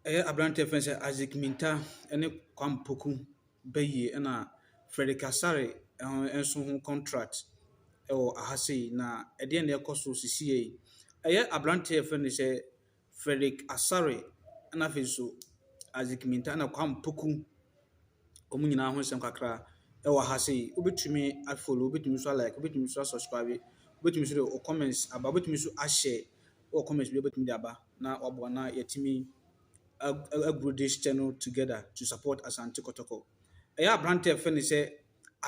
Ɛyɛ aberanteɛ a yɛfrɛ no sɛ Isaac Mintah ne Kwame Poku bayie ɛna Fredrick Asare nso ho contract wɔ ha sei. Na ɛdeɛn na ɛrekɔ so seesei yi? Ɛyɛ aberanteɛ a yɛfrɛ no sɛ Fredrick Asare ɛna afei nso Isaac Mintah ɛna Kwame Poku, wɔn nyinaa ho nsɛm kakra ɛwɔ ha sei. Wobɛtumi a follow, wobɛtumi nso a like, wobɛtumi nso a subscribe, wobɛtumi nso de wo comments aba, wobɛtumi nso a share. wɔ comments bi a wobɛtumi de aba na waboa na yɛatumi aguru this channel together to support Asante Kɔtɔkɔ. Ɛyɛ aberanteɛ fɛ ne sɛ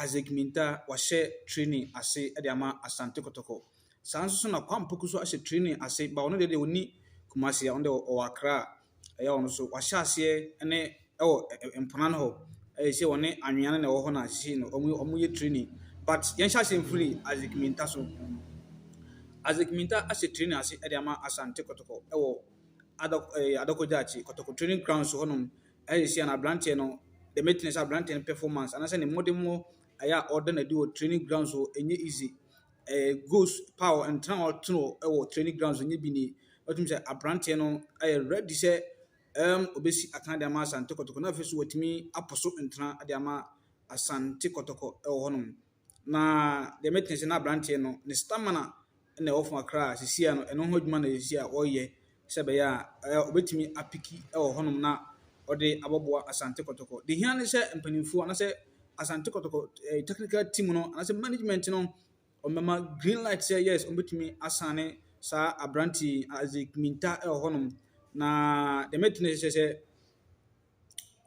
Isaac Minta wahyɛ training ase de ama Asante Kɔtɔkɔ. Saa nso so na Kwampoku so ahyɛ training ase ba ɔno deɛ deɛ ɔni Kumasi a ɔno deɛ ɔwɔ Accra ɛyɛ a ɔno nso wahyɛ aseɛ ne ɛwɔ mpona no hɔ ayɛ sɛ ɔne anwea no na ɛwɔ hɔ na seesei no wɔreyɛ training but yɛnhyɛ aseɛ mfiri Isaac Mintah so. Isaac Mintah ahyɛ training ase de ama Asante Kɔtɔkɔ ɛwɔ Adɔk ɛɛ eh, Adɔkɔ Gyaakye Kɔtɔkɔ training grounds hɔnom ɛyɛ sɛ na aberanteɛ no the meeting sɛ aberanteɛ no performance anaasɛ ne mmɔdemmɔ ɛyɛ a ɔda no adi wɔ training grounds hɔ ɛnyɛ easy. ɛɛ goals pa a ntena a ɔte no wɔ training grounds no bi ni. Wotumi sɛ aberanteɛ no ayɛ ready sɛ ɛɛm obesi atena de ama Asante Kɔtɔkɔ na afei nso watumi apo so ntena de ama Asante Kɔtɔkɔ wɔ hɔnom. Na deɛ mɛte ase na aberanteɛ no ne stamina na ɛwɔ fam kakra a seesei ano ɛno ho adwuma na seesei a ɔreyɛ. sɛ ɛbɛyɛ a ɛɛ ɔbɛtumi apiki wɔ hɔnom na ɔde abɔboa Asante Kɔtɔkɔ. Deɛ hia ne sɛ mpanimfoɔ anaasɛ Asante Kɔtɔkɔ ɛɛ technical team no anaasɛ management no wɔbɛma green light sɛ yes wɔbɛtumi asane saa aberante Isaac Minta wɔ hɔnom. Na deɛ mɛtumi sɛ sɛ.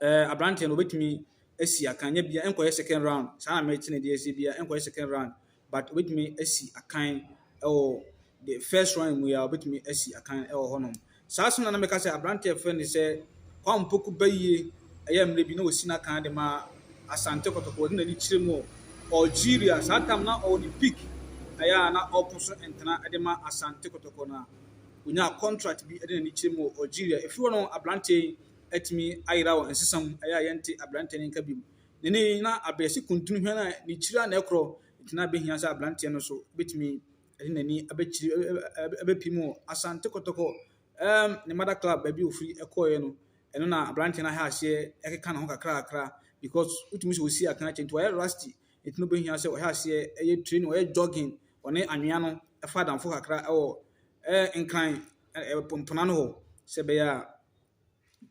eh, aberanteɛ no ɔbɛtumi asi akan nyɛ bia ɛnkɔyɛ second round saa na mɛte ne deɛ sɛ bia ɛnkɔyɛ second round but ɔbɛtumi asi akan ɛwɔ the first round mu yɛ a ɔbɛtumi asi akan ɛwɔ hɔnom saa so na na mɛka sɛ aberanteɛ fɛ ne sɛ kwan mpoku bɛyie ɛyɛ mmerɛ bi na ɔsi no akan de ma asante kɔtɔkɔ ɔde n'ani kyerɛ mu algeria saa tam na ɔwɔ ne peak ɛyɛ a na ɔko so ntena de ma asante kɔtɔkɔ no a ɔnyaa contract bi de n'ani kyerɛ mu wɔ algeria ɛfiri hɔ no aberanteɛ yi atumi ayera wɔ nsesa mu, ɛyɛ a yɛnte aberanteɛ no nka bio. Na ɛnnɛ yi, na abeasi kuntun hwɛn a ne tiri a na ɛkorɔ, nti na ɛbɛhia sɛ aberanteɛ no nso bɛtumi de n'ani abɛkyiri ɛ ɛ ɛ ɛ abɛpem wɔ Asante Kɔtɔkɔ ɛɛm ne mother club baabi a ɔfiri kɔeɛ no. Ɛno na aberanteɛ no ahyɛ aseɛ ɛkeka ne ho kakrakra because wotumi sɛ ɔsi akan akyɛ nti wayɛ rusty nti na ɔbɛhia sɛ ɔhyɛ aseɛ ɛyɛ training, ɔyɛ jogging, ɔne anwea no ɛfa adamfo kakra ɛwɔ ɛɛ Nkran ɛɛ Pompono ano hɔ sɛ ɛbɛyɛ a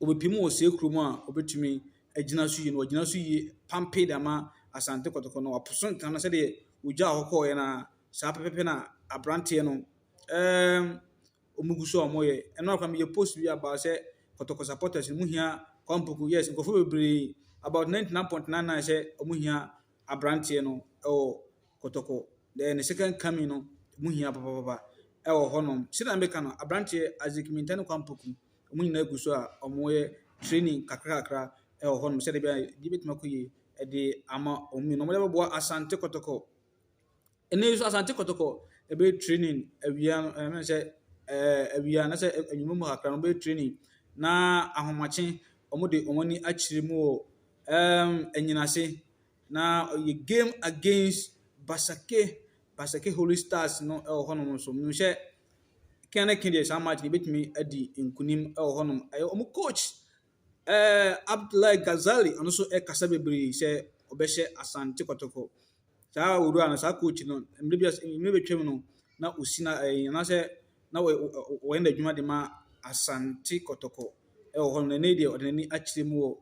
wɔbɛpem wɔ saa kurom a wɔbɛtumi agyina so yie. Na wɔagyina so yie pampe de ama Asante Kɔtɔkɔ no. Wɔaposo nkran no sɛdeɛ ogya a ɔkɔeɛ no ara, saa pɛpɛɛpɛ na aberanteɛ no ɛɛm wɔgu so a wɔreyɛ. Ɛno ara kwa meyɛɛ post bi about sɛ Kɔtɔkɔ supporters no, mohia Kwampɔku. Yes, nkurɔfoɔ bebree, about ninety nine point nine nine sɛ wɔhia aberanteɛ no wɔ . kɔtɔkɔ, dɛ ne second coming no mu hia papaapa wɔ hɔnom. Sɛnea meka no, aberanteɛ Isaac Mintah ne Kwame Poku, wɔn nyinaa gu so a wɔyɛ training kakrakakra wɔ hɔnom sɛdeɛ ɛbɛyɛ a biribi bɛtumi akɔ yie de ama wɔn mmienu. Wɔde bɛboa Asante Kɔtɔkɔ. Ɛnnɛ yi nso Asante Kɔtɔkɔ bɛyɛ training awia no, ɛɛ me hu sɛ ɛɛ awia anaasɛ anwummam mu kakra no wɔbɛyɛ training na ahomakye wɔde wɔn ani akyerɛ mu wɔ ɛɛm anyinase. Na ɔyɛ game against Basake, Basake Holy Stars no wɔ hɔnom nso. Menim sɛ Ken ne Ken deɛ saa match no yɛbɛtumi adi nkunim wɔ hɔnom. Ɛyɛ wɔn coach eh, Abdullahi Ghazali, ɔno nso kasa bebree sɛ ɔbɛhyɛ Asante Kɔtɔkɔ. Saa owura no, saa coach no, mmerɛ bi as- mmerɛ bɛtwam no, na ɔsi na ɛyi anaasɛ na ɔyɛ ɔ- ɔyɛ n'adwuma de ma Asante Kɔtɔkɔ wɔ hɔnom. Na ɛnɛ yi deɛ ɔde n'ani akyerɛ mu wɔ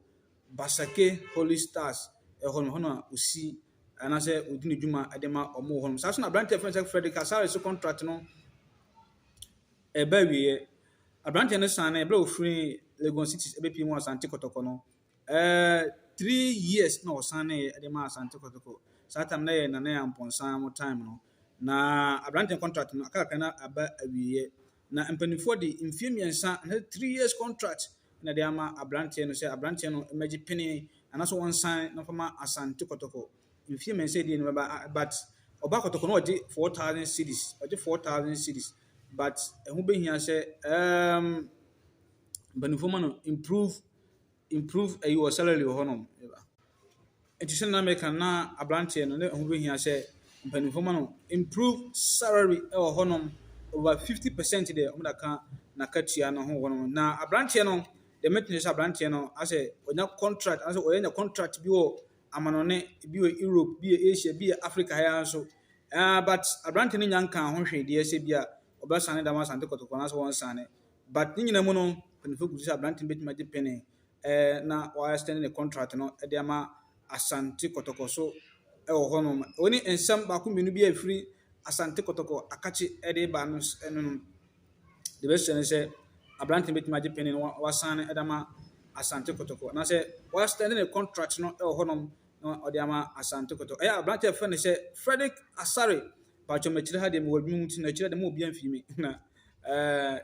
Basake Holy Stars hɔ no, hɔ na osi anaasɛ odi ne dwuma de ma wɔn wɔ hɔnom. Saa nso na aberante a yɛfrɛ no sɛ Frederick Asare so contract no ɛreba awieɛ. Aberante no san no ɛberɛ a ɔfiri Legon Cities ɛbɛpie mu wɔ Asante Kɔtɔkɔ no, eh, three years na ɔsan no de ma Asante Kɔtɔkɔ. Saa time no yɛ Nana Amponsah mo time no. Na aberante no contract no aka kakra na aba awieɛ. Na mpanimfoɔ de mfeɛ mmiɛnsa anaasɛ three years contract na ɛde ama aberanteɛ no sɛ aberanteɛ no mmɛgye penee anaasɛ wɔnsan na wɔfa ma Asante Kɔtɔkɔ. Mfeɛ mmiɛnsa die no bɛba a- but ɔba Kɔtɔkɔ no ɔgye four thousand cedis ɔgye four thousand cedis but ɛho bɛhia sɛ um, mpanimfoɔ ma no improve improve ayi wɔ salary wɔ hɔnom. Nti sɛnea na meka no na aberanteɛ no na ɛho bɛhia sɛ mpanimfoɔ ma no improve salary wɔ hɔnom over fifty percent deɛ wɔde aka n'akatua no ho hɔnom. Na aberanteɛ no deɛ mɛtene sɛ aberanteɛ no asɛ ɔnya contract asɛ ɔyɛ nya contract bi wɔ amanɔne bi wɔ Europe bi wɔ Asia bi wɔ Africa ha ara nso. Uh, but aberanteɛ no nya nkaa ho hwee deɛ sɛ bi a ɔbɛsane dama asante kɔtɔkɔ anaasɛ wɔnsane. But ne nyinaa mu no, mpanyinfoɔ gu so sɛ aberante no bɛtumi agye pene eh, na wɔasɛne ne contract no de ama Asante Kɔtɔkɔ so wɔ hɔnom. Wei ne nsɛm baako mmienu bi a ɛfiri Asante Kɔtɔkɔ akakye de reba no s- no nom. Deɛ bɛhyɛ no sɛ aberante no bɛtumi agye pene no wa- wasan no de ama Asante Kɔtɔkɔ anaasɛ wɔasɛne ne contract no wɔ hɔnom na ɔde ama Asante Kɔtɔkɔ. Ɛyɛ aberante a ɛfrɛ no sɛ Frederick Asare. Paatwɔ makyiri ha deɛ mewɔ adwuma mu nti na ɛkyerɛ de ma obi amfii me na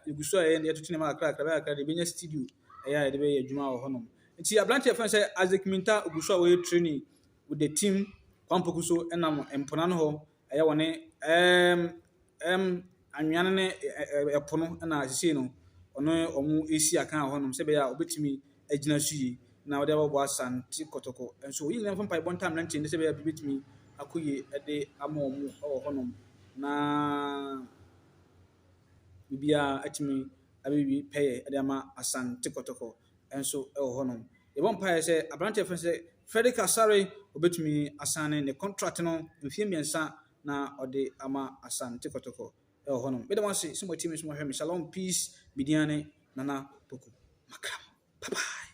yɛgu so a yɛyɛ yɛtoto nneɛma kakra kakra bɛyɛ a kakra de yɛbɛnya studio ɛyɛ a yɛde bɛyɛ adwuma wɔ hɔnom. Nti aberante yɛfrɛ no sɛ Isaac Minta ɔgu so a ɔyɛ training with the team Kwampoku so ɛnam mpona no hɔ ɛyɛ wɔ ne ɛɛm ɛɛm anwea no ne ɛpo no ɛna sisei no ɔno wɔn resi akan wɔ hɔnom sɛ ɛbɛyɛ a ɔbɛtumi agyina so yie na wɔde abɛbɔ Asante Kɔtɔkɔ nso wɔn nyinaa mfa mpaebɔ ntam mmeranteɛ no sɛ ɛbɛyɛ a biribi bɛtumi akɔ yie ɛde ama wɔn wɔ hɔnom na biribiara atumi abewie pɛyɛ de ama Asante Kɔtɔkɔ nso wɔ hɔnom. Yɛbɔ mpaeɛ sɛ aberanteɛ a yɛfrɛ no sɛ Fredrick Asare, ɔbɛtumi asane ne contract no mfeɛ mmiɛnsa na ɔde ama Asante Kɔtɔkɔ wɔ hɔnom. Meda mo ase sɛ moatie me nso moahwɛ me. Shalom, peace, me din ne Nana Poku Makram. Bye bye.